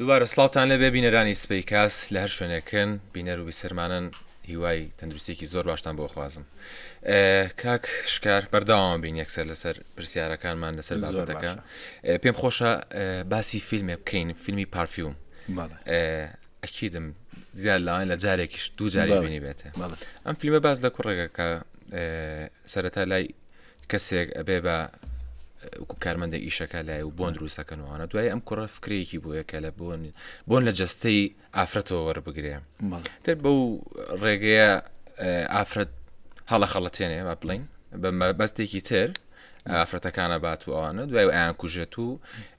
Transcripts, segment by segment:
دووبارە سڵاوان لەبێ بینەرانی سپی کاس لە هەر شوێنێکن بینەر و بیسەرمانن هیوای تەندروستێکی زۆر باشتان بۆ خوازم کاک شکار بەرداوام بین یەکسەر لەسەر پرسیارەکانمان لەسەر بابەتەکە پێم خۆشە باسی فیلمێ بکەین فیلمی پارفیوم ئەکیدم زیاد لاوان لە جارێکیش دوو جاری بینی بێتە ئەم فیلمە باس لە کوڕێکەکە سەرەتا لای کەسێک ئەبێ بە کارمەندە ئیشەکە لای و بۆن دروستەکەنەوەوانە دوای ئەم کوڕە فکرێکی بووە کە لە بۆن بۆن لە جستەی ئافرەتەوە وەربگرێ تر بەو ڕێگەیە ئافرەت هەڵە خەڵەتێنێ با بڵین بە مەبەستێکی تر ئافرەتەکانە بات و ئەوانە دوای ئایان کوژێت و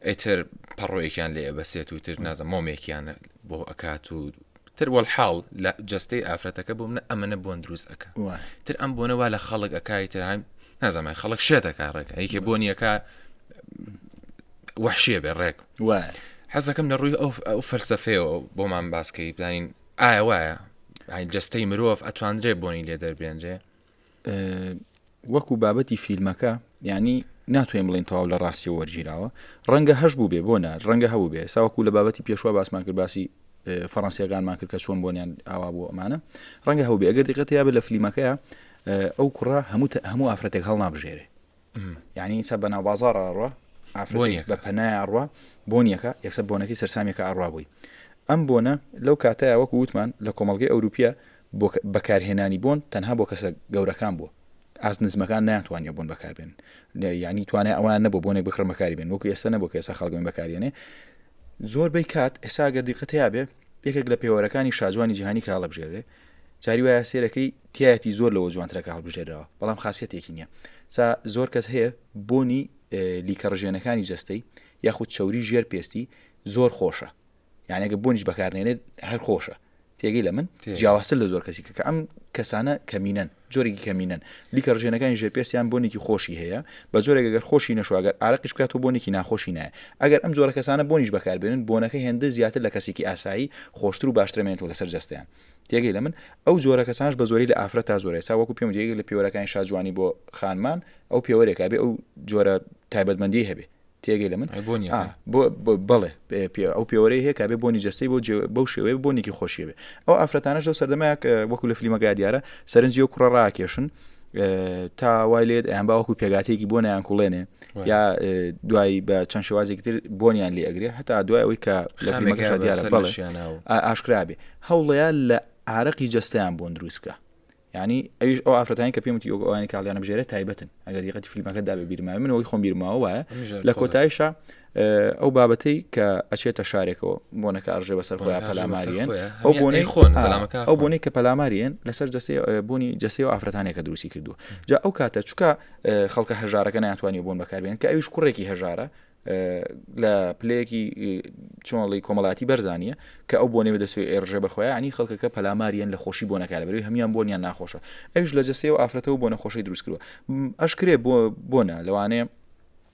ئەتر پەڕۆیەکیان لێ بەسێت و تر نازە مۆمێکیان بۆ ئەکات و تر وەلحاڵ لە جەستەی ئافرەتەکە بۆ منە ئەمەە بۆن دروست ئەکا تر ئەم بۆنە وا لە خەڵک ئەکای تر هایم نازانای خەڵک شێتەکە ڕێک ئەیکێ بۆنیەکە وحشێ بێ ڕێک حەزەکەم لە ڕووی ئەو فەلسفەیەوە بۆمان باسکەی بزانین ئایا وایە جستەی مرۆڤ ئەتواندرێ بۆنی لێ دەربێنرێ وەکو بابەتی فیلمەکە ینی ناتوانین بڵین تەواو لە ڕاستی وەرگیراوە ڕەنگە هەش بوو بێ بۆ نار ڕەنگە هەبوو بێ ساوەکو لە بابەتی پێشوە باسمان کرد باسی فەڕەنسیەکانمان کرد کە چۆن بۆنیان ئاوا بۆ ئەمانە ڕەنگە هەوو بێ ئەگەر دیقەتە یا بە لە فلیمەکەیە ئەو کوڕە هەموو هەموو ئافرەتێک هەڵ نابژێرێ یعنی ئینسا بە ناوبازار ئەڕوا ئافرەتێک بە پەنای ئەڕوا بۆنیەکە یەکسە بۆنەکەی سەرسامیەکە ئەڕوا بووی ئەم بۆنە لەو کاتەیە وەکو وتمان لە کۆمەلگەی ئەوروپیە بەکارهێنانی بۆن تەنها بۆ کەسە گەورەکان بووە ئاست نزمەکان ناتوانانی بوون بەکاربێن یعنی توانێ ئەوان نەبوو بۆنێک بخڕ بەکاری بێن وەکو ئێستا نەبوو کە ئێستا خەڵگەن بەکارێنێ زۆر بەی کات ئێسا گەردیقەتیا بێ یەکێک لە پێوەرەکانی شاجوانی جیهانی کاڵە بژێرێ جاری وایە سێرەکەی تیایەتی زۆر لەوە جوانترە کە هەڵبژێرراوە بەڵام خاسیەتێکی نییە سا زۆر کەس هەیە بۆنی لیکە ڕژێنەکانی جەستەی یاخود چوری ژێر پێستی زۆر خۆشە یانەگە بۆنیش بەکارنێنێت هەر خۆشە تێگەی لە من جیاواسل لە زۆر کەسی کە ئەم کەسانە کەمینەن جۆرێکی کەمینەن لیکە ڕژێنەکانی ژێپێسیان بۆنێکی خۆشی هەیە بە جۆرێک گەر خۆشی نەشواگەر ئارەقیش بکات و بۆنێکی ناخۆشی نایە ئەگەر ئەم جۆرە کەسانە بۆنیش بەکاربێنن بۆنەکە هێندە زیاتر لە کەسێکی ئاسایی خۆشتر و باشترمێنێت و لەسەر جستیان تێگەی لە من ئەو جۆرە کەسانش بە زۆری لە ئافرەت تا زۆرە سا وەکو پێم دیگە لە پێوەرەکانی شاجوانی بۆ خانمان ئەو پێوەرێکا بێ ئەو جۆرە تایبەتمەندی هەبێ تێگەی لە من بڵێ ئەو پێوەرەی هەیە کابێ بۆنی جەستەی بۆ بەو شێوەیە بۆنێکی خۆشیەوێ ئەو ئافرەتانش لەو سەردەمایك وەکو لە فلیمەکە دیارە سەرنجی و کوڕە ڕاکێشن تا وای لێت ئەیان باوەکو پێگاتێکی بۆ نیان کوڵێنێ یا دوای بە چەند شێوازێکی تر بۆنیان لێ ئەگرێ هەتا دوای ئەوەی کە لەمەکە دیارە بەڵشیانە و ئاشکرابێ هەوڵەیە لە ئارەقی جستیان بۆن دروست بکە ینی ئەوش ئەو ئافرەتانی کە پێمتی ئەوانی کاڵیانە بژێرە تایبەتن ئەگەر دیقەتی فیلمەکە دابێ بیرما من ئەوی خۆم بیرماوە وایە لە کۆتایشە ئەو بابەتەی کە ئەچێتە شارێکەوە بۆنەکە ئەڕژێ بەسەر خۆیان پەلاماریان ئەو بۆنەی خۆن ئەو بۆنەی کە پەلاماریان لەسەر جستی بوونی جستی و ئافرەتانێکە دروستی کردووە جا ئەو کاتە چکە خەڵکە هەژارەکە ناتوانانی بوون بەکاربێن کە ئەویش کوڕێکی هەژارە لە پلەیەکی چۆنڵی کۆمەڵاتی بەرزانە کە ئەو بۆنێ بەدەسوی ئێرژێ بەخۆیانی خەڵکەکە پەلاماریان لە خۆشی بۆ نەکە لە بەروی هەمان بۆنیان ناخۆشە ئەوش لە جەسەوە ئافرەتەوە بۆ نەخۆشی دروستکرەوە ئەشکرێ بۆ بۆنا لەوانەیە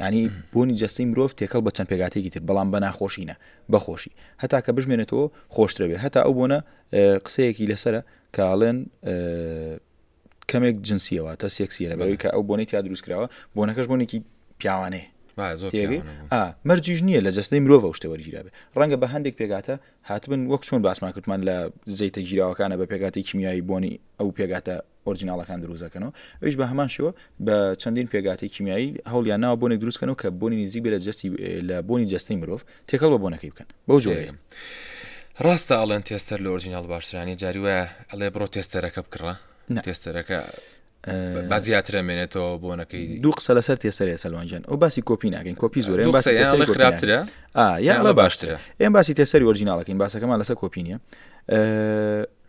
یانی بۆنی جەستەی مرۆڤ تێکەڵ بە چەند پێگاتێکی تر بەڵام بە ناخۆشی نە بە خۆشی هەتا کە بژمێنێتەوە خۆشترە بێ هەتا ئەو بۆنە قسەیەکی لەسرە کاڵێن کەمێک جنسیەوە تا سێکسیە لە بەوەی کە ئەو بۆنی تا دروستکراوە بۆنەکەش بۆنێکی پیاوانەیە مەرجیش نییە لە جستەی مرۆڤ شتە وەرگیرابێ ڕەنگە بە هەندێک پێگاتە هاتبن وەک چۆن باسمان کردمان لە زەیتە گیراوەکانە بە پێگاتی کیمیایی بۆنی ئەو پێگاتە ئۆرجیناڵەکان دروست دەکەنەوە ئەویش بە هەمان شێوە بە چەندین پێگاتی کیمیایی هەوڵیان ناوە بۆنێک دروستکەنەوە کە بۆنی نزیک بێ لە جستی لە بۆنی جستەی مرۆڤ تێکەڵ بە بۆنەکەی بکەن بەو جۆرەیە ڕاستە ئەڵێن تێستەر لە ئۆرجینال باشترانی جاری وایە ئەڵێ بڕۆ تێستەرەکە بکڕە تێستەرەکە با زیاترە مێنێتەوە بۆنەکەی دوو قسە لەسەر تێسەرێ سەلوانجان ئەو باسی کۆپی ناکەین کۆپی زۆر خراپترە یاڵە باشترە ئێم باسی تێسەری وەرجیناڵەکەین باسەکەمان لەسەر کۆپی نیە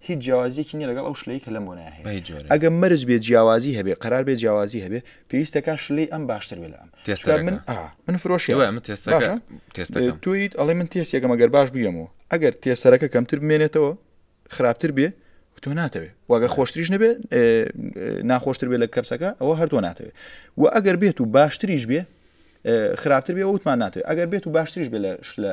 هیچ جیاوازیەکی نیە لەگەڵ ئەو شلەی کە لەم بۆنای هەیە ئەگە مەرج بێ جیاوازی هەبێ قرار بێ جیاوازی هەبێ پێویستەکە شلەی ئەم باشتر بێ لە ئەم تێستەکە من من فرۆشی من تێستەکە تێستەکە تویت ئەڵێ من تێستێکە مەگەر باش بگەمەوە ئەگەر تێسەرەکە کەمتر بمێنێتەوە خراپتر بێ تۆ ناتەوێ واگە خۆشتریش نەبێ ناخۆشتر بێ لە کەپسەکە ئەوە هەردوو ناتەوێ و ئەگەر بێت و باشتریش بێ خراپتر بێ وتمان ناتوێت ئەگەر بێت و باشتریش بێ لە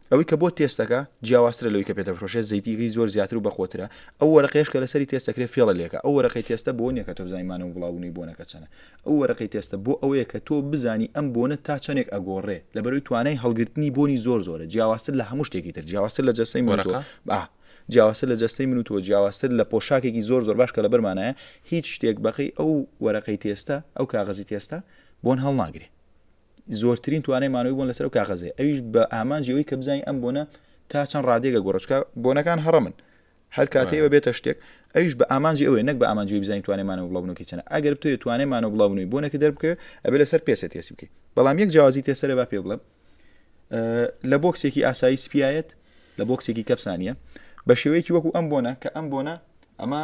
ئەوەی کە بۆ تێست دەکا جیاوازترە لەوەی کە پێ دەفرۆشێت زەیتیی زۆر زیاتر و بەقوەترە ئەو وەرەقەیەش کە لەسەری تێست دەکرێت فێڵە لێکە ئەو وەرەقەی تێستە بۆ نییە کە تۆ بزانی مانەوە بڵاوبوونەوەی بۆنەکە چەنە ئەو وەرەقەی تێستە بۆ ئەوەیە کە تۆ بزانی ئەم بۆنە تا چەنێک ئەگۆڕێ لەبەرەوەی توانای هەڵگرتنی بۆنی زۆر زۆرە جیاوازتر لە هەموو شتێکی تر جیاوازتر لە جەستەی من و تۆ با جیاوازتر لە جەستەی من و تۆ جیاوازتر لە پۆشاکێکی زۆر زۆر باش کە لەبەرمانایە هیچ شتێک بەقەی ئەو وەرەقەی تێستە ئەو کاغەزی تێستە بۆن هەڵناگرێ زۆرترین توانای مانەوەی بۆن لەسەر و کاغەزێ ئەویش بە ئامانجی ئەوەی کە بزانین ئەم بۆنە تا چەند ڕادێگە گۆڕچکە بۆنەکان هەڕمن هەر کاتەوە بێتە شتێک ئەویش بە ئامانجی ئەوەیە نەک بە ئامانجی بزانین توانێمانە بڵاو بنوکی چەنە ئەگەر بتوێت توانێمانە بڵاو بنووی بۆ نەکە دەربکە ئەبێ لەسەر پێسە تێسی بکەیت بەڵام یەک جیازی تێسەرە با پێ بڵم لە بۆکسێکی ئاسایی سپایەت لە بۆکسێکی کەپسانە بە شێوەیەکی وەکو ئەم بۆنە کە ئەم بۆنە ئەمە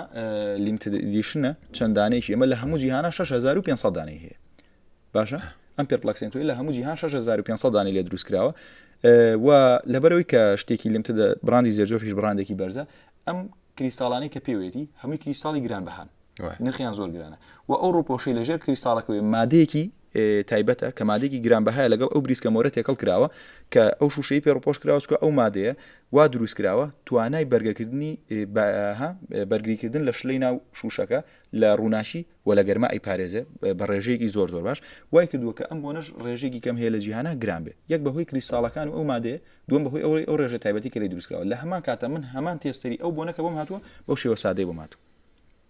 لیمتدیشنە چەندانێکی ئەمە لە هەموو جیهانە 6500 دانەی هەیە باشە ئەم پێرپلکسنتۆی لە هەموو جیهان 6500 دانی لێ دروست کراوە و لەبەرەوەی کە شتێکی لمتە براندی زێرجۆفیش بڕاندێکی بەرزە ئەم کریستاڵانی کە پێوێتی هەمووی کریستاڵی گران بەهان نرخیان زۆر گرانە و ئەو ڕوپۆشی لە ژێر کریستاڵەکەوەی مادەیەکی تایبەتە کە مادێکی گران بەهای لەگەڵ ئەو بریسکە مۆرە تێکەڵ کراوە کە ئەو شوشەی پێ ڕپۆش کراوەچکە ئەو مادەیە وا دروست کراوە توانای بەرگەکردنی بەرگریکردن لە شلەی ناو شوشەکە لە ڕووناکی و لە گەرما ئەیپارێزێ بە ڕێژەیەکی زۆر زۆر باش، وای کردووە کە ئەم بۆنەش ڕێژەیەکی کەم هەیە لە جیهانا گران بێ، یەک بە هۆی کریستاڵەکان و ئەو مادەیە، دووەم بە هۆی ئەو ئەو ڕێژە تایبەتی کە لێی دروست کراوە، لە هەمان کاتە من هەمان تێستەری ئەو بۆنە کە بۆم هاتووە بەو شێوە سادەی بۆم هاتووە.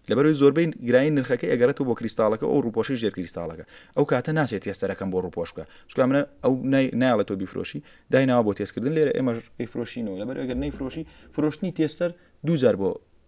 لەبەر ئەوەی زۆربەی گرانی نرخەکەی ئەگەڕێتەوە بۆ کریستاڵەکە و ئەو ڕووپۆشەی ژێر کریستاڵەکە، ئەو کاتە ناچێ تێستەرەکەم بۆ ڕووپۆش بکا، چونکە ئەمنە ئەو نای نایەڵێ تۆ بیفرۆشی، دایناوە بۆ تێست کردن لێرە ئێمەش ئەیفرۆشینەوە، لەبەر ئەگەر نەیفرۆشی فرۆشتنی تێستەر دوو جار بۆ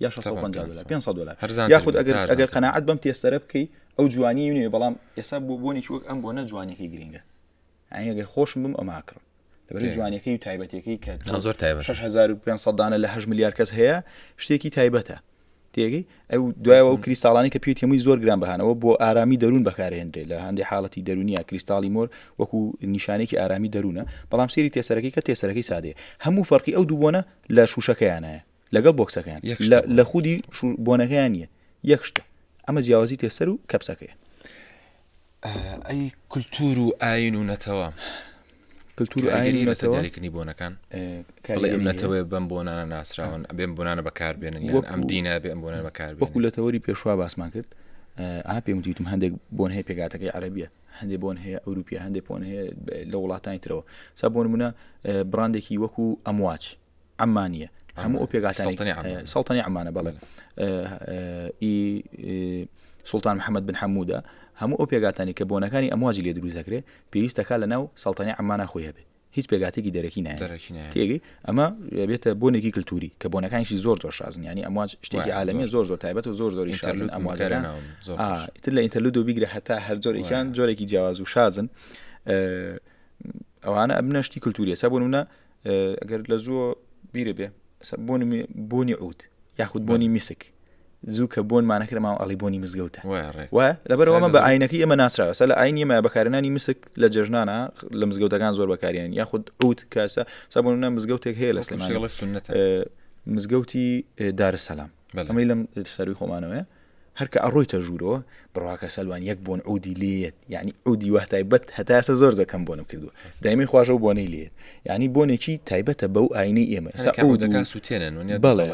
یا 650 دلار 500 دلار یاخود ئەگەر ئەگەر قەنەعەت بەم تێستەرە بکەی ئەو جوانی نوێ بەڵام ئێستا بۆ بۆنێکی وەک ئەم بۆ نە جوانەکەی گرنگە ئەگەر خۆشم بم ئەماکڕم لەبەر جوانەکەی و تایبەتەکەی کە زۆر تای 6500 دانە لە 8 میلیار کەس هەیە شتێکی تایبەتە تێگەی ئەو دوایەوە و کریستاڵانی کە پێتیموی زۆر گران بەهانەوە بۆ ئارامی دەروون بەکارهێنرێ لە هەندی حاڵەتی دەرونیە کریستاڵی مۆر وەکو نیشانێکی ئارامی دەروونە بەڵام سێری تێسەرەکەی کە تێسەرەکەی سادەیە هەموو فەرقی ئەو دووبوونە لە شوشەکەیانە لەگەڵ بۆکسەکەیان لە خودی بۆنەکەیان نیە یەکشتە ئەمە جیاوازی تێسەر و کەپسەکەی ئەی کللتور و ئاین و نەتەوە کللتور ئاینی نەتەوەکردنی بۆنەکەن ئەم نەتەوەی بەم بۆنانە ناسراون ئەبێن بۆنانە بەکاربێنن یان ئەم دینە بێ ئەم بۆنە بەکار وەکو لە تەوەری پێشوا باسمان کرد ئا پێم وتیتم هەندێک بۆن هەیە پێگاتەکەی عربیە هەندێ بۆن هەیە ئەوروپیا هەندێک بۆن هەیە لە وڵاتانی ترەوە سا بۆن منە براندێکی وەکو ئەمواچ عەمانیە هەموو ئەو پێگاتانی سەڵتەنی ئەمانە بەڵێ ئی سلتان محەممەد بن حەمودا هەموو ئەو پێگاتانی کە بۆنەکانی ئەمواجی لێ دروست دەکرێت پێویستەکە لە ناو سەڵتەنی ئەمانە خۆی هەبێت هیچ پێگاتێکی دەرەکی نایەکی ئەمە بێتە بۆنێکی کللتوری کە بۆنەکانیشی زۆر زۆر شازن ینی ئەمواج شتێکی عالمی زۆر زۆر تایبەت و زۆر زۆری شازن ئەمواجران تر لە ئینتەلود و بیگرە هەتا هەر زۆرێکیان جۆرێکی جیاواز و شازن ئەوانە ئەبنەشتی کللتوریە سە بۆ منە ئەگەر لە زوو بیرە بێ بۆنی بۆنی عوت یاخود بۆنی میسک زوو کە بۆن مانەکرماوە ئەڵی بۆنی مزگەوتە لەبەرەوەمە بە ئاینەکە ئێمە ناسراوە سە لە ئاین ئێمە بەکارێنانی مسک لە جژنانە لە مزگەوتەکان زۆر بەکارێن یاخود عوت کاسە سابوونە مزگەوتێک هەیە لە سلێمانی مزگەوتی دارسەلام ئەمەی لەم سەروی خۆمانەوەە هەر کە ئەڕۆیتە ژوورۆ بڕواکە سەلوان یەک بۆن عودی لێت یعنی عودی وه تایبەت هەتاسە زۆر زەکەم بۆنم کردو دایمەی خوۆش و بۆنەی لێت یعنی بۆنێکی تایبەتە بەو ئاینەی ئێمە سەعودەکان سووتێنن بەڵێ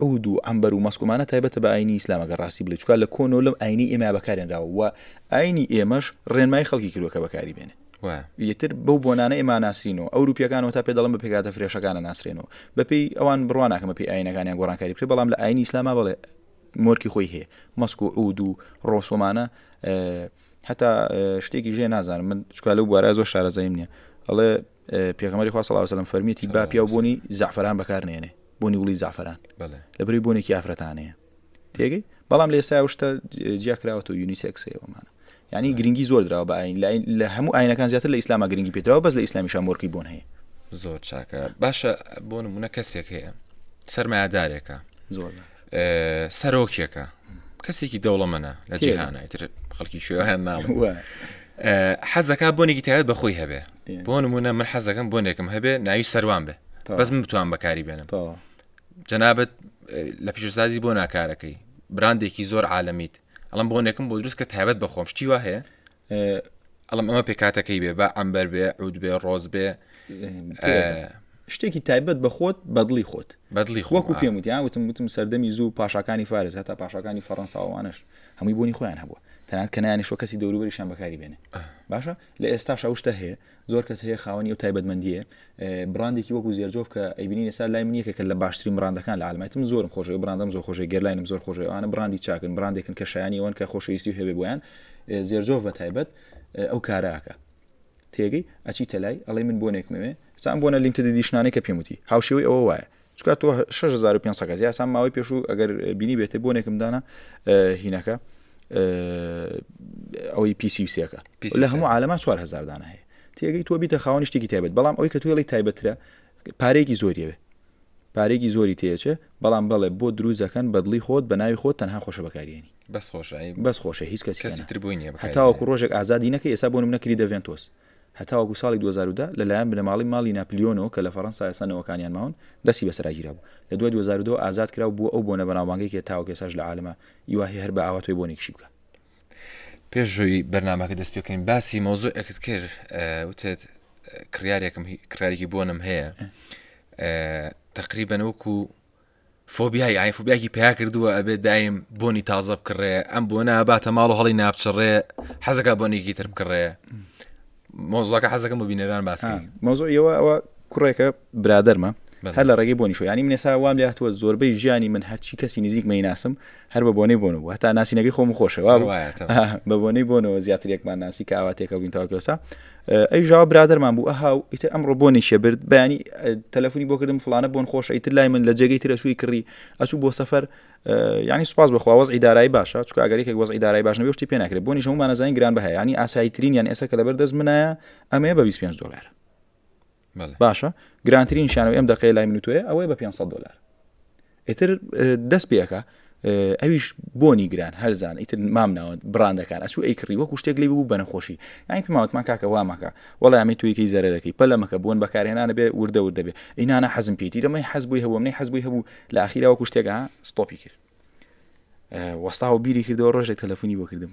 عود و ئەمبەر و مەسکومانە تایبەتە بە ئاینی ئیسلامەکە ڕاستی بلێ چکار لە کۆنۆ لەم ئاینی ئێمە بەکارێنراوە ئاینی ئێمەش ڕێنمای خەڵکی کردوەکە بەکاری بێنێ وایە. ئیتر بەو بۆنانە ئێمە ئاناسرینەوە، ئەوروپییەکان وەتا پێ دەڵێن بە پێکهاتە فرێشەکان ئەناسرێنەوە، بەپێی ئەوان بڕوا ناکەم بەپێی ئایینەکانیان گۆڕانکاری بکرێت، بەڵام لە ئایینی ئیسلاما بەڵێ مۆرکی خۆی هەیە، مەسک و عوود و ڕۆس ومانە هەتا شتێکیش هەیە نازانم من چکا لەو بوارە زۆر شارەزاییم نییە، ئەڵێ پێغەمبەری خوا صلی الله علیه و سلم فەرمیەتی با پیاو بۆنی زەعفەران بەکار نێنێ بۆنی گوڵی زەعفەران بەڵێ لەبری بۆنێکی ئافرەتانەیە. تێگەی بەڵام لە ئێستا شتە جیاکراوەەوە یونیسێکسەوەمانە ینی گرنگی زۆر درا بە ئاین لاین لە هەموو ئاینەکان زیاتر لە ئیسلامە گرنگی پێتراوە بەس لە ئیسلامی شامۆرکی بۆن هەیە زۆر چاکە باشە بۆ نمونە کەسێک هەیە سەرمایهدارێکە زۆر سەرۆکێکە کەسێکی دەوڵەمەە لە جیهانە ئیتر خەڵکی شوێوان ناڵ حەزەکە بۆنێکی تایبەت بەخۆی هەبێ بۆ نمونە من حەزەکەم بۆنێکم هەبێ ناوی سەروان بێ بەس من بتوان بەکاری بێنم جەنابەت لە پیشسازی بۆ ناکارەکەی براندێکی زۆر عاالمیت ئەڵم بۆنێکم بۆ دروست کە تایبەت بە خۆم شتی وا هەیە ئەڵم ئەمە پێکاتەکەی بێ بە ئەمبەر بێ عود بێ ڕۆز بێ شتێکی تایبەت بە خۆت بەدڵی خۆت بەدڵی خۆکو پێم وتیان وتم وتم سەردەمی زوو پاشاکانی فارز هەتا پاشاکانی فەڕەنساوانش هەمووی بوونی خۆیان هەبووە تەنات کەنانیشۆ کەسی دەوروبەریشان بەکاری بێنێ باشە لە ئێستا شەوشتە هەیە زۆر کەس هەیە خاوەنی ئەو تایبەتمەندیە براندێکی وەکو زێرجۆف کە ئەیبنی نسا لای من یەکێکە لە باشترین براندەکان لە عالمایت من زۆرم خۆش براندم زۆر خۆشی گەرلاینم زۆر خۆشەوانە براندی چاکن براندێکن کە شایانی ئەوەن کە خۆشەویستی هەبێ بۆیان زێرجۆف بە تایبەت ئەو کاراکە تێگەی ئەچی تەلای ئەڵی من بۆنێکمەوێ سان بۆنە لیمتە دیشنانەی کە پێموتی هاوشێوەی ئەوە وایە چکا تۆ شش هزار و پێنج سەد کەس یاسا ماوەی پێشوو ئەگەر بینی بێتێ بۆنێکم دانا هینەکە ئەوەی پیسی و سێەکە لە هەموو عالەما 4 هزار دانە هەیە تێگەی تۆ بیتە خاوەنی شتێکی تایبەت بەڵام ئەوی کە توێڵی تایبەترە پارێکی زۆریەوێ پارێکی زۆری تێچێ بەڵام بەڵێ بۆ دروزەکەن بەدڵی خۆت بە ناوی خۆت تەنها خۆشە بەکارێنی بەس خۆشایی بەس خۆشە هیچ کەسی تر بووی نیە هەتاوەکو ڕۆژێک ئازادی نەکە ئێستا بۆ منەکری دەڤێن تۆست هەتاوەکو ساڵی دوو هەزار و دە لەلایەن بنەماڵەی ماڵی ناپلیۆنەوە کە لە فەرەنسا ئێستا نەوەکانیان ماون، دەستی بەسەراگیرابوو. لە دوای دوو هەزار و دە ئازاد کرا و بووە ئەو بۆنە بەناوبانگەی کە تاوەکو ئێستاش لە عالەما ی وا هەیە هەر بە ئاوا تۆی بۆنێکیشی بکا. پێش ئەوەی بەرنامەکە دەست پێ بکەین باسی مەوزوعێکت کرد وتت کڕیارێکم کڕیارێکی بۆنم هەیە تەقریبەن وەکو فۆبیای ئاین فۆبیاکی پیا کردووە ئەبێ دایم بۆنی تازە بکڕێ ئەم بۆ ناباتە ماڵ و هەڵی نابچڕێ حەزەکە بۆنێکی تر بکڕێ مۆزڵەکە حەزەکەم بۆ بینەران باسکە مۆزۆ ئەوە ئەوە کوڕێکە برادەرمە هەر لە ڕێگەی بۆنی شو ینی منێسا وام لاتوە زۆربەی ژیانی من هەرچی کەسی نزیک مەی ناسم هەر بە بۆنەی بۆن و هەتا ناسینەکەی خۆم خۆشەوە بە بۆنەی بۆنەوە زیاترێکمان ناسی کاواتێکە بین تاوکەسا ئەی ژاو برادرمان بوو ئەها و ئیتر ئەمڕۆ بۆ نیشە برد بەیانی تەلەفۆنی بۆ کردم فلانە بۆن خۆش ئیتر لای من لە جێگەی ترە سووی کڕی ئەچوو بۆ سەفەر ینی سوپاس بخواوەز ئیدارایی باشە چکە ئەگەرێکێک وەز ئیدارای باش نەبێشتی پێ ناکرێت بۆ نیشەمانەزانین گران بە هەیە ینی ئاساییترین یان ئێستا کە لەبەر دەست منایە ئەمەیە بە 25 دلار باشە گرانترین شیان و ئەم دەقەیە لای من تۆیە ئەوەیە بە 500 دلار ئیتر دەست پێەکە ئەویش بۆنی گران هەرزان ئیتر مام ناوە بڕاندەکان ئەسو ئەیکڕی وەکو شتێک لی بوو بەنەخۆشی ئەین پێماوتمان کاکە وامەکە وڵامی تویکەی زەرەکەی پەلەمەکە بوون بەکارهێنانە بێ وردە وردە بێ ئینانە حەزم پێیتی لەمەی حەز بووی هەبوو منی حەز بووی هەبوو لە ئاخیرا وەکو شتێکە ستۆپی کرد وەستا و بیری کردەوە ڕۆژێک تەلەفۆنی بۆ کردم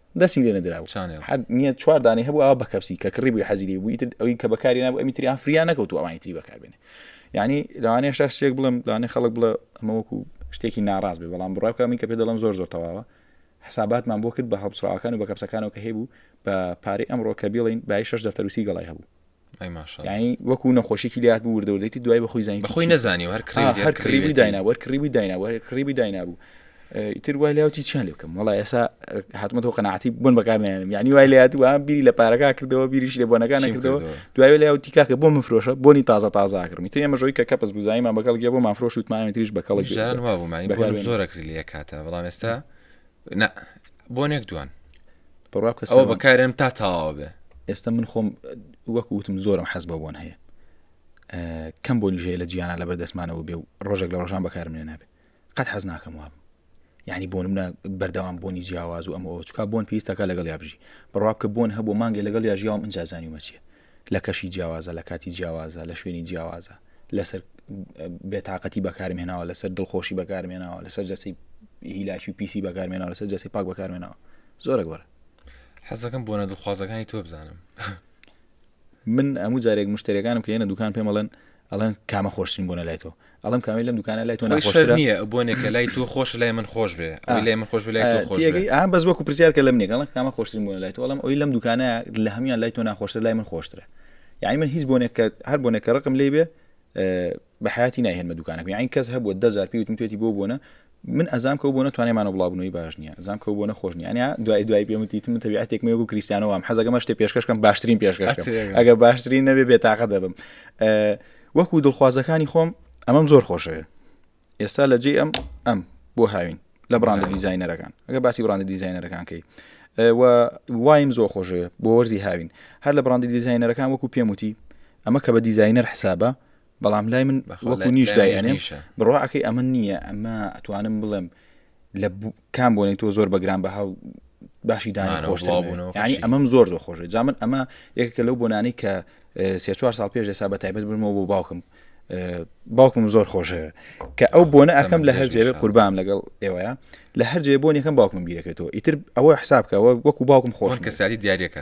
دەسی لێ نەدرا و چانێڵ. حەد نییە چوار دانەی هەبوو ئەوە بە کەپسی کە کڕی بووی حەزی لێ بووی تر ئەوی کە بەکاری نابوو ئەمی تریان فریا نەکەوت و ئەوانی تری بەکاربێنێ یعنی لەوانەیە شتا شتێک بڵێم لەوانەیە خەڵک بڵێ ئەمە وەکو شتێکی ناڕاست بێ بەڵام بڕای بکە من کە پێ دەڵم زۆر زۆر تەواوە حساباتمان بۆ کرد بە هەڵبچڕاوەکان و بە کەپسەکانەوە کە هەیبوو بە پارەی ئەمڕۆ کە بیڵین بای شش دەفتەروسی گەڵای هەبوو ینی وەکو نەخۆشیی لات بوو وردەوردێتی دوای بە خۆی زانین بەخۆی نزانی هەر هەر کڕیوی دایناوە کڕیوی دایناوە کڕیوی داینابوو تر وای لاوتی چیان لێ بکەم وڵی ئێسا هاتمەوە قەنەعاتی بن بەکارنیانم یعنی وای لە یادوە بیری لە پارەکە کردەوە بیریش لە بۆنەکان کردەوە دوای لە یاوتی کاکە بۆ مفرۆشە بۆنی تازە تازە کردمی تێ مەژۆی کە کەپس بزایمان بەگەڵ گێ بۆ مافرۆش وتمانێتریش بەکەڵی ژیان وابوومانی زۆرە کرد لە کاتە بەڵام ئێستا نا بۆ نێک دوان بڕوا بکە ئەوە سەرم- بەکارێم تا تاوا بێ ئێستا من خۆم وەک وتم زۆرم حەز بە بۆن هەیە ئە، کەم بۆنی ژەیە لە جیانە لەبەر دەستمانەوە بێ و ڕۆژێک لە ڕۆژان بەکارم لێ نابێ قەت حەز ناکەم وابم یعنی بۆن منە بەردەوام بۆنی جیاواز و ئەم ئەو چکا بۆن پێویستەکە لەگەڵ یابژی بڕوا بکە بۆن هەبوو مانگێ لەگەڵ یاژیاوم ئەجازانی ومەچیە لە کەشی جیاوازە لە کاتی جیاوازە لە شوێنی جیاوازە لەسەر بێتاقەتی بەکارم هێناوە لەسەر دڵخۆشی بەکارم هێناوە لەسەر جەسی هیلاکی و پیسی بەکارم هێناوە لەسەر جەسی پاک بەکارم هێناوە زۆرە گۆرە حەزەکەم بۆ نە دڵخوازەکانی تۆ بزانم من هەموو جارێک مشتێکانم کە ێنە دوکان پێم بڵێن ئەڵێن کامە خۆشترین بۆنە لای تۆ ئەڵم کامی لەم دوکانە لای تۆ ناخۆشتر نییە بۆنێکە لای تۆ خۆش لای من خۆش بێ لای من خۆش لای تۆ خۆش ئەم بەس وەکو پرسیارکە لەم نێگەڵ کامە خۆشتر بوون لای تۆ ئەڵم ئەوی لەم دوکانە لە هەمیان لای تۆ ناخۆشتر لای من خۆشترە یعنی من هیچ بۆنێکە هەر بۆنێکە ڕقم لێ بێ بە حیاتی ناهێنمە دوکانەکە یعنی کەس هەبووە دەزار پێوتم توێتی بۆ بۆنە من ئەزام کەو بۆنە توانێمانە بڵاوبنەوەی باش نییە زام کەو بۆنە خۆش نیانە دوای دوای پێموتیت من تەبیعاتێک مێ و کریسیانەوەم حەزەکەمە شتێ پێشکەشکەم باشترین پێشکەش ئەگە باشترین نەبێ بێتاقە دەبم وەکو دڵخوازەکانی خۆم ئەمەم زۆر خۆشەوێ ئێستا لە جێ ئەم ئەم بۆ هاوین لە بڕاندە دیزینەرەکان ئەگە باسی بڕاندە دیزینەرەکانکەی وایم زۆر خۆشەوێ بۆ وەرزی هاوین هەر لە بڕاندی دیزینەرەکان وەکو پێموتی ئەمە کە بە دیزینەر حسابە بەڵام لای من وەکو نیش دایێنێ بڕواکەی ئەمە نییە ئەمە ئەتوانم بڵێم لە کام بۆنی تۆ زۆر بەگران بە هاو باشی دانی خۆشبوونەوە ینی ئەمەم زۆر زۆر خۆشە جا من ئەمە یەکە لەو بۆنانی کە سێ چوار ساڵ پێش دەسا بە تایبەت بنمەوە بۆ باوکم باوکم زۆر خۆشەوە کە ئەو بۆنە ئەەکەم لە هەرجێ قوربام لەگەڵ ئێوەیە لە هەرجێ بۆن یەکەم باوکم بیرەکەێتەوە ئیتر ئەوە حسابکەەوە وەکو باوکم خۆش کەساتی دیارەکە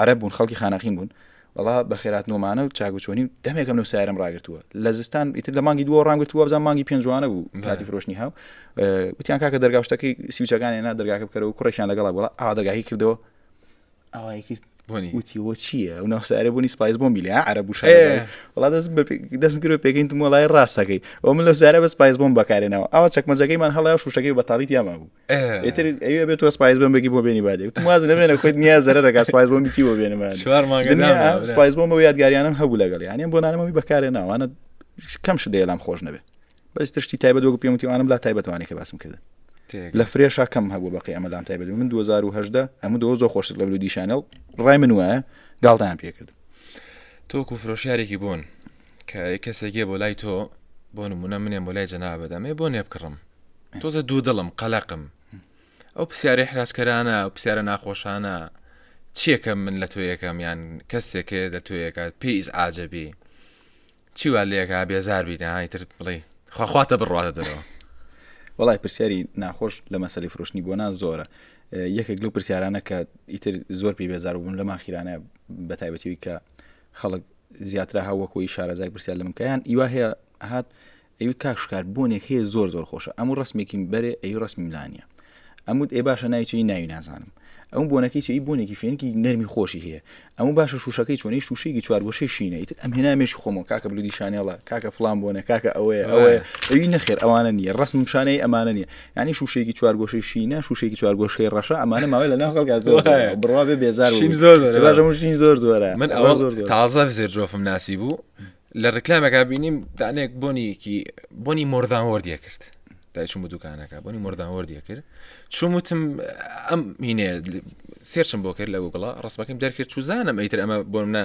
عەرەب بوون خەڵکی خانەقین بوون وڵا بە خێراتنەوەمانە و چاگوچۆنی و دەمێکم لەو سارم ڕاگرتووە لە زستان ئیتر لە مانگی دووە ڕام گرتووە بزان مانگی پێنجوانە بوو کاتی فرۆشنی هاو وتیان کاکە دەرگاشتەکەی سیوچەکانی نا دەرگاکە بکەرەوە کوڕێکیان لەگەڵا بڵا ئا دەرگاهی کردەوە ئاوای کرد وتیەوە چییە ئەو ناوسارە بوونی سپایس بۆم بیلیا عرە بوو وڵا دەست دەست کرد پێکەین وڵای ڕاستەکەی ئەو من لە سارە بە سپایس بۆم بەکارێنەوە ئەوە چەکمەجەکەیمان هەڵای شوشەکەی بەتاڵیت یاما بوو ئێتر ئەوێ بێت تۆ سپایز بم بگی بۆ بێنی بادێ وتم واز نەبێنە خۆت نییە زەرە دەگا سپایز بۆم بیتی بۆ بێنمە چوار مانگە دنیا نامێنێ، برا. سپایز بۆم بۆ یادگاریانم هەبوو لەگەڵ یانیم بۆ نانەمەوەی بەکارێ ناوانە کەم شت دەیە لام خۆش نەبێ بەس تشتی تایبەت وەک پێم وتیوانم لا تایبەتوانێک کە باسم کردن تێگە. لە فرێشا کەم هەبوو بەقی ئەمە لام تایبەت من 2010 ئەمە دۆ زۆ خۆشت لە بلودی شانێڵ ڕای من وایە گاڵتەیان پێکرد تۆکو فرۆشیارێکی بوون کە کەسێکێ بۆ لای تۆ بۆ نمونە منێن بۆ لای جەنابە دەمێ بۆ نێبکڕم تۆزە دوو دڵم قەلەقم ئەو پرسیارە حراجکەرانە ئەو پرسیارە ناخۆشانە چیەکە من لە تۆ یەکەم یان کەسێکێ دە تۆ یەکات پێیز ئاجەبی چیوا لەکە بێزار بیداهانی تر بڵێ خواخواتە بڕاتە دەرەوە وڵای پرسیاری ناخۆش لە مەسەلی فرۆشتنی بۆ نا زۆرە یەکێک لەو پرسیارانە کە ئیتر زۆر پێی بێزار بوون لە ماخیرانە بە تایبەتیوی کە خەڵک زیاترا هە وەکۆی شارەزای پرسیار لە منکەیان ئیوا هەیە هات ئەوی کاکشکار بۆنێک هەیە زۆر زۆر خۆشە ئەمو ڕسمێکی بەرێ ئەی ڕسمی ملانە ئەمود ئێ باشە ناویی ناوی نازانم ئەو بۆنەکەی چی بۆنێکی فێنکی نەرمی خۆشی هەیە ئەمە باشە شوشەکەی چۆنی شوشێکی چوار بۆ شەی شینە ئیتر ئەم هێنامێش خۆمە کاکە بلودی شانێڵە کاکە فلان بۆنە کاکە ئەوەیە ئەوەیە ئەوی نەخێر ئەوانە نیە ڕسم شانەی ئەمانە نیە یعنی شوشەیەکی چوارگۆشەی شینە شوشێکی چوارگۆشەی ڕەشە ئەمانە ماوەی لە ناو خەڵکا زۆر بڕوا بێ بێزار شین زۆر زۆرە من ئەوە زۆر تازە زێر جۆفم ناسی بوو لە ڕکلامەکە بینیم دانێک بۆنیەکی بۆنی مردان وەردیە کرد دایچوم بە دوکانەکە بۆنی مردان وەردیە کرد چوم وتم ئەم مینێ سێرچم بۆ کرد لە گوگڵە ڕستمەکەم دەرکرد چوزانم ئەیتر ئەمە بۆ منە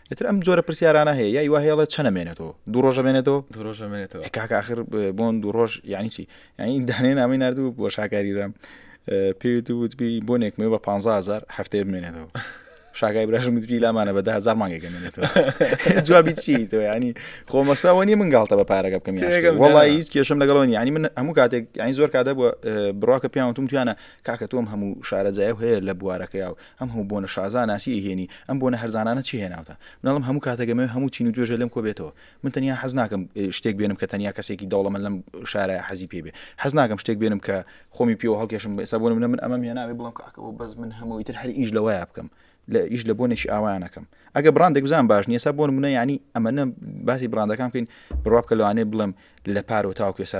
ئیتر ئەم جۆرە پرسیارانە هەیە یای وهێڵە چە نەمێنێتەوە دوو ڕۆژە بێنێتەوە دوو ڕۆژە بێنێتەوە کاکە آخر بۆن دوو ڕۆژ یعنی چی یعنی دانێ نامی نردوو بۆ شاکاریرام پێویت وتبی بۆنێک مێ بە 15000 هەفتەیە بمێنێتەوە شاگای براشم گوتبی لامانە بە هزار مانگێک گەمێنێتەوە جوابی چی تۆ ینی خۆمەساوە نیە من گاڵتە بە پارەکە بکەم یاگەم وڵی هیچ کێشم لەگەڵەوە ینی من هەموو کاتێک یانی زۆر کاتە بووە بڕاکە پیاوتم توانە کاکە تۆم هەموو شارەزایە هەیە لە بوارەکەیا و ئەم هەموو بۆنە شازا ناسی ئەیهێنی ئەم بۆنە هەرزانانە چی هێناوتە مناڵم هەموو کاتەک ئەمەوێ هەموو چین و توێژێ لەم کۆ بێتەوە من تەنیا حەز ناکەم شتێک بێنم کە تەنیا کەسێکی دەوڵەمەن لەم شارایە حەزی پێ بێ حەز ناکەم شتێک بێنم کە خۆمی پێوە هەڵکێشم ئێستا بۆ نمونە من ئەمەم هێناوێ بڵێم کاکە ئەوە بەس من هەمەوەی تر هەر ئیش لەوەیە بکەم لە ئیش لە بۆنێکی ئاوایان نەکەم ئەگە بڕاندێک بزان باش نیە سا بۆ نمونە یعنی ئەمەە باسی بڕاندەکان بکەین بڕوا بکە لەوانێ بڵێم لە پارۆ تاوکێ سا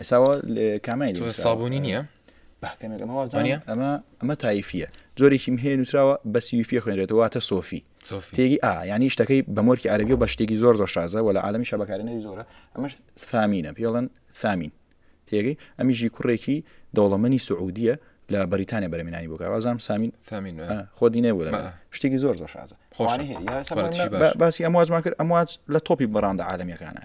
ئێساوە کامی سابوونی نییە ئەمە ئەمە تایفە جۆرێکی هەیە نووسراوە بە سیفە خوێنێتەوە واتە سۆفی تێگی ئا ینی شتەکەی بە مۆرکی عربی و بە شتێکی زۆر زۆر شازە وە لە عاالمی شەبکارێنەری زۆرە ئەمەش سامینە پێڵەن سامین تێگەی ئەمیژی کوڕێکی دەوڵەمەنی سعودیە لە بەریتانیا بەرمینانی بۆ کاوازام سامین فامین خۆ دینێ بوو شتێکی زۆر زۆر شازە باسی ئەمواجمان کرد ئەمواج لە تۆپی بەڕاندە عاالمیەکانە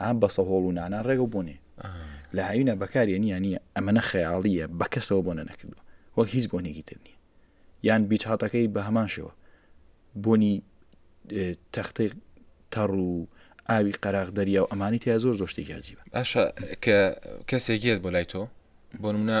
ئەه بەسە هۆڵ و نانا ڕێگە بۆ نێ لە هاوینە بەکارێ نیە نیە ئەمەە خەیاڵیە بە کەسەوە بۆ نەنەکردووە وەک هیچ بۆنێکی تر نیە یان بیچ هاتەکەی بە هەمان شێوە بۆنی تەختەی تەڕ و ئاوی قەراغ دەریا و ئەمانی تیا زۆر زۆشتێکی عجیبە باشە کە کەسێکێت بۆ لای تۆ بۆ منە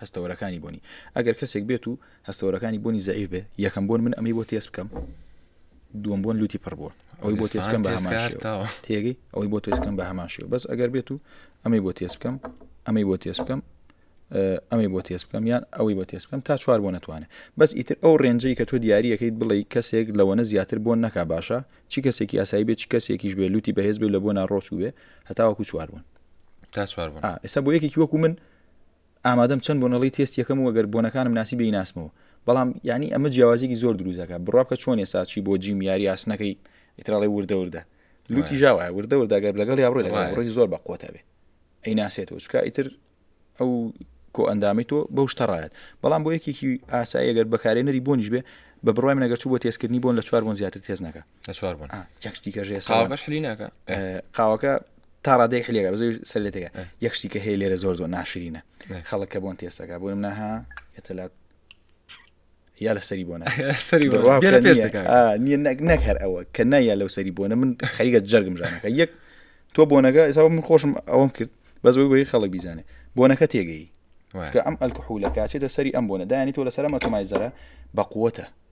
هەستەوەرەکانی بۆنی، ئەگەر کەسێک بێت و هەستەوەرەکانی بۆنی زەعیف بێ، یەکەم بۆن من ئەمەی بۆ تێست بکەم، دووەم بۆن لوتی پڕ بووە ئەوەی بۆ تێستکەم بە هەمان شێوە تێگەی ئەوەی بۆ تێستکەم بە هەمان شێوە بەس ئەگەر بێت و ئەمەی بۆ تێست بکەم ئەمەی بۆ تێست بکەم ئەمەی بۆ تێست بکەم یان ئەوەی بۆ تێست بکەم تا چوار بۆ نتوانێت بەس ئیتر ئەو ڕێنجەی کە تۆ دیارریەکەیت بڵێ کەسێک لەوەنە زیاتر بۆ نەکا باشە چی کەسێکی یاسایی بێت چ کەسێکیش بێ لوتی بەهێز بێ لە بۆ ناڕۆچ وێ هەتاوەکو چوار بوون تا چوار بوون ئێستا بۆ یەکێکی وەکو من ئامادەم چەند بۆنەڵەی تێست یەکەم و گەر بۆنەکانم ناسی بێی ناسمەوە بەڵام یانی ئەمە جیاوازیەکی زۆر دروست دەکات بڕوا بکە چۆن ئێستا چی بۆ جیم یاری ئاسنەکەی ئیتراڵی وردە وردە لوتی ژاوە وردە وردە گەر لەگەڵ یا بڕۆی لەگەڵ بڕۆی زۆر بە قوتە بێ ئەی ناسێتەوە چکا ئیتر ئەو کۆ ئەندامی تۆ بەو شتەڕایەت بەڵام بۆ یەکێکی ئاسایی گەر بەکارێنەری بۆنیش بێ بە بڕای منەگەر چوو بۆ تێزکردنی بۆن لە چوار بۆن زیاتر تێز نەکە لە چوار بۆن یەکشتیکەژێ ساوەش حلی ناکە قاوەکە تا ڕادێک حلێگە بە زۆی سەر لێتەکە یەکشتی کە هەیە لێرە زۆر زۆر ناشرینە خەڵکە بۆن تێستەکە بۆ منە ها ئێتەلات یا لە سەری بۆنە سەری نیە نەک هەر ئەوە کە نایە لەو سەری بۆنە من خەریگە جەرگم ژانەکە یەک تۆ بۆنەکە ئێستا من خۆشم ئەوم کرد بەس بۆی بۆی خەڵک بیزانێ بۆنەکە تێگەی ئەم ئەلکحولە کاچێتە سەری ئەم بۆنە دایانی تۆ لەسەر مەتۆمای زەرە بە قوتە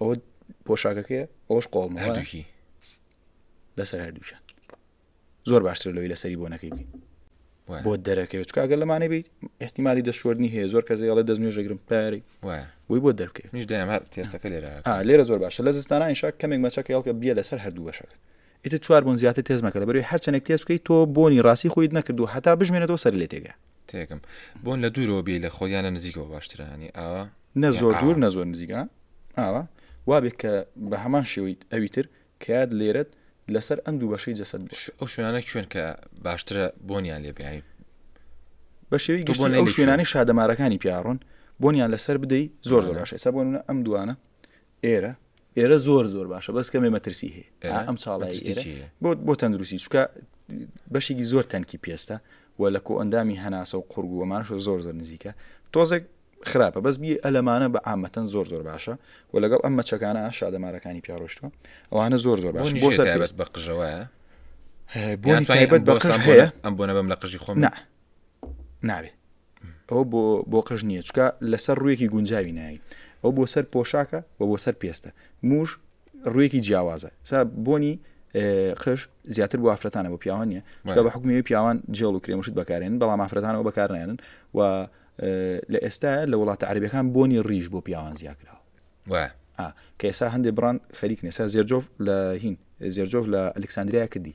ئەوە پۆشاکەکەی ئەوش قۆڵ هەردووکی لەسەر هەردووچە زۆر باشتر لەوەی لەسەری بۆ نەکەی بی بۆ دەرەکەوێت چکگەر لەمانە بیت احتیممالی دەستشۆرنی هەیە زۆر کە زیڵە دەست نوێژەگرم پارەی وی بۆ دەرکە میش دەم هەر تێستەکە لێرە لێرە زۆر باشە لە زستانانیشا کەمێک مەچەکە هەڵکە بیە لەسەر هەردوو بەشەکە ئیتر چوار بۆن زیاتر تێز مەکە لەبەروی هەر چەندێک تێز بکەیت تۆ بۆنی ڕاستی خۆیت نەکردو هەتا بژمێنێتەوە سەرت لێ تێگا تێکم بۆن لە دوورەوە بێ لە خۆ یانە نزیکەوە باشترە هەنی ئاوا نە یان زۆر ئاوا. دوور نە زۆر نزیکە ئاوا وابێت کە بە هەمان شێوەی ئەوی تر کەات لێرەت لەسەر ئەم دوو بەشەی جەسەد بێت ش- ئەو شوێنانە کوێن کە باشترە بۆنیان لێ بێنی بە شێوەی بۆ گشتی نەی ئەو لە شوێنانەی شادەمارەکانی پیاڕۆن بۆنیان لەسەر بدەی زۆر زۆر باشە ئێستا بۆ نمونە ئەم دوانە ئێرە ئێرە زۆر زۆر باشە بەس کەمێ مەترسی هەیە ئەم چاڵی بۆ بۆ تەندروستی چکە بەشێکی زۆر تەنکی پێستە و لە کۆ ئەندامی هەناسە و قورگووەمانش زۆر زۆر نزیکە تۆزێک خراپە بەس بی ئەلەمانە بە ئامەتەن زۆر زۆر باشە و لەگەڵ ئەم مەچەکانە شادەمارەکانی پیاڕۆشتوە ئەوانە زۆر زۆر باش بۆ سەربەست بە قژەوە بۆ تایبەت بە قژ هەیە ئەم بۆنە بەم لە قژی خۆم نابێ ئەوە بۆ بۆ قژ نییە چکە لەسەر ڕوویەکی گونجاوی نایی ئەو بۆ سەر پۆشاکە و بۆ سەر پێستە موش ڕوویەکی جیاوازە سا بۆنی قش زیاتر بۆ ئافرەتانە بۆ پیاوان نیە چکە بە حکومی پیاوان جێڵ و کرێمشت بەکارێن بەڵام ئافرەتانەوە بەکارنێنن و لە ئێستا لە وڵاتە عربەکان بۆنی ڕیژ بۆ پیاوان زیاکراوە کە ئێسا هەندێک بڕان خەریک نێسا زێرجۆف لە هین زێرجۆف لە ئەلکسسانندریا کردی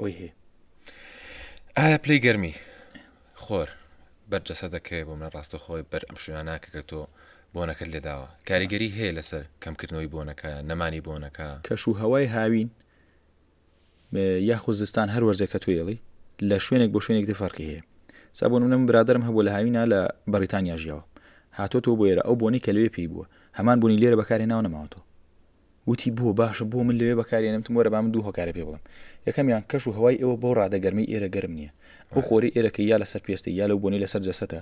ئۆی هێ ئایا پلەی گەرمی خۆر بەر جەسە دەکەوێت بۆ منە ڕاستە خۆی بەر ئەم شوێناناکە کە تۆ بۆنەکەت لێداوە کاریگەری هەیە لەسەر کەمکردنەوەی بۆنەکە نەمانی بۆنەکە کەش و هەوای هاوین یاخود زستان هەر وەرزێک کە توێڵی لە شوێنێک بۆ شوێنێک دفەرقی هەیە سابوون منم برادرم هەبوو لە هاوینا لە بەریتانیا ژیاوە هاتۆ تۆ بۆێرە ئەو بۆنی کە لەوێ پێی بووە هەمان بوونی لێرە بەکارێ ناو نەماوەتەوە وتی بۆ باشە بۆ من لەوێ بەکاری نەمتم وەرە با من دوو هۆکارە پێ بڵێم یەکەمیان کەش و هەوای ئێوە بەو ڕادە گەرمەی ئێرە گەرم نییە ئەو خۆرەی ئێرە کە یا لەسەر پێستە یا لەو بۆنەی لەسەر جەستەتە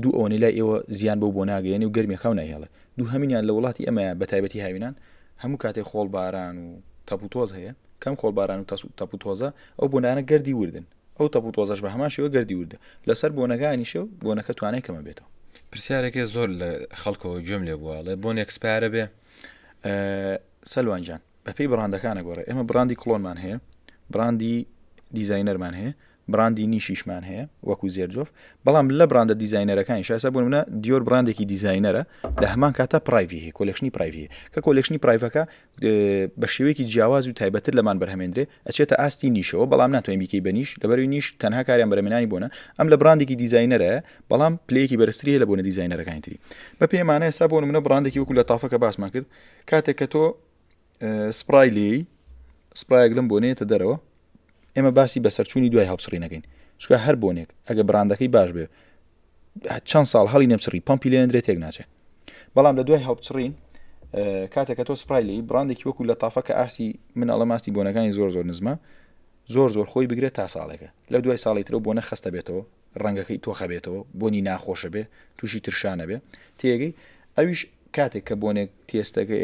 دوو ئەوەنەی لای ئێوە زیان بەو بۆنە ئەگەیەنێ و گەرمی خاو نایهێڵێ دووهەمینیان لە وڵاتی ئێمەیە بە تایبەتی هاوینان هەموو کاتێ خۆڵ باران و تەپوتۆز هەیە کەم خۆڵ باران و تەپوتۆزە ئەو بۆنانە گەردی وردن ئەو تەپ و تۆزەش بە هەمان شێوە گەردی وردە لەسەر بۆنەکانیشە و بۆنەکە توانای کەمە بێتەوە. پرسیارێکێ زۆر لە خەڵکەوە گوێم لێ بووە ئەڵێ بۆن ئێکسپایەرە بێ؟ سەلوان گیان بەپێی بڕاندەکانە گۆڕێ ئێمە بڕاندی کڵۆنمان هەیە بڕاندی دیزاینەرمان هەیە بڕاندی نیشیشمان هەیە وەکو زێرجۆف بەڵام لە بڕاندە دیزاینەرەکانی شاسە بوون منە دیۆر بڕاندێکی دیزاینەرە لە هەمان کاتە پرایڤی هەیە کۆلکشنی پرایڤی کە کۆلکشنی پرایڤەکە بە شێوەیەکی جیاواز و تایبەتر لەمان بەرهەمێنرێ ئەچێتە ئاستی نیشەوە بەڵام ناتوانین بیکەی بە نیش لەبەروی نیش تەنها کاریان بەرەمێنانی بوونە ئەم لە بڕاندێکی دیزینەرە بەڵام پلەیەکی بەرزتری لە بۆنە دیزینەرەکانی تری بە پێمانە ئێستا بۆ منە بڕاندێکی وەکو لە تافەکە باسمان کرد کاتێک کە تۆ سپرای لێی سپرایەک لەم بۆنێتە دەرەوە ئێمە باسی بەسەرچوونی دوای هەڵچڕی نەکەین چکە هەر بۆنێک ئەگە بڕاندەکەی باش بێ چەند ساڵ هەڵی نەمچڕی پمپی لێندرێت تێک ناچێت بەڵام لە دوای هەڵچڕین کاتێکە تۆ سپرای لی بڕاندێکی وەکو لە تافە کە ئاستی مناڵە ماستی بۆنەکانی زۆر زۆر نزمە زۆر زۆر خۆی بگرێت تا ساڵێکە لە دوای ساڵی ترە بۆ نەخستە بێتەوە ڕەنگەکەی تۆخە بێتەوە، بۆنی ناخۆشە بێ، تووشی ترشان ئەبێ، تێگەی؟ ئەویش کاتێک کە بۆنێک تێستەکەی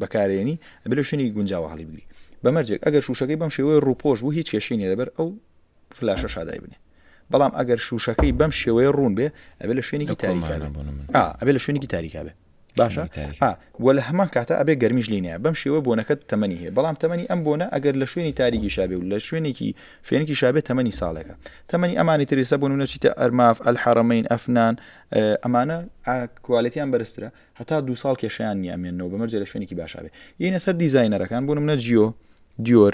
بەکارێنی ئەبێ لە شوێنی گونجاوە هەڵیبگری. بە مەرجێک ئەگەر شووشەکەی بەم شێوەیە ڕووپۆش بوو هیچ کێشەی نیە لەبەر ئەو فلاشە شادای بنێ. بەڵام ئەگەر شووشەکەی بەم شێوەیە ڕوون بێ ئەبێ لە شوێنێکی تاریکا بێ. ئەبێ لە شوێنێکی تاریکا بێ. باشە ئا وە لە هەمان کاتە ئەبێ گەرمیش لێی نەیە بەم شێوە بۆنەکەت تەمەنی هەیە بەڵام تەمەنی ئەم بۆنە ئەگەر لە شوێنی تاریکیشا بێ و لە شوێنێکی فێنکیشا بێ تەمەنی ساڵێکە تەمەنی ئەمانی تر ئێستا بۆنمونە چیتە ئەرماف ئەلحەرەمین ئەفنان ئەمانە کوالێتیان بەرزترە هەتا دو ساڵ کێشیان نیە ئەمێنەوە بەمەرجە لە شوێنێکی باشا بێ یینە سەر دیزاینەرەکان بۆنمونە جیۆ دیۆر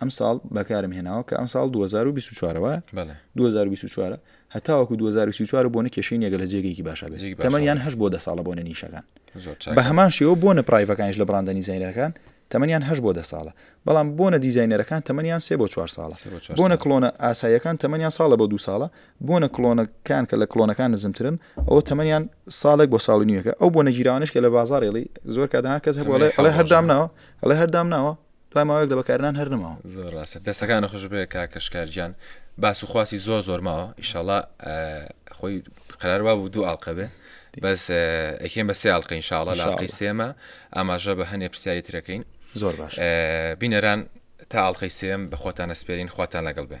ئەم ساڵ بەکارم هێناوە کە ئەم ساڵ 2024 وە 2024 هەتاوەکو 2024 بۆنە کێشەی نێگە لە جێگەیەکی باشە بێت تەمەن یان هەش بۆ دە ساڵە بۆنە نیشەکان بە هەمان شێوە بۆنە پرایڤەکانش لە بڕاندە نیزینەکان تەمەنیان هەش بۆ دە ساڵە بەڵام بۆنە دیزینەرەکان تەمەنیان سێ بۆ چوار ساڵە بۆنە کلۆنە ئاساییەکان تەمەنیان ساڵە بۆ دو ساڵە بۆنە کلۆنەکان کە لە کلۆنەکان نزمترن ئەوە تەمەنیان ساڵێک بۆ ساڵ نیوەکە ئەو بۆ نەگیراوانش کە لە بازارێڵی زۆر کەدا کەس هەڵێ هەردام ناوە هەڵێ هەردام ناوە دوای ماوەیەک لە بەکارنان هەر نەماوە زۆر ڕاستە دەستەکانە خوش بێ کاکەشکارجان باس و خواستی زۆر زۆر ماوە ئیشەڵا خۆی قراروا بوو دوو ئاڵلقە بێ بەس ئەکێن بە سیاڵقە ئینشاڵە لاقی سێمە ئاماژە بە هەنێ پرسیاری ترەکەین زۆر باش بینەران تا ئاڵلقەی سێم بە خۆتان ئەسپێرین خواتان لەگەڵ بێ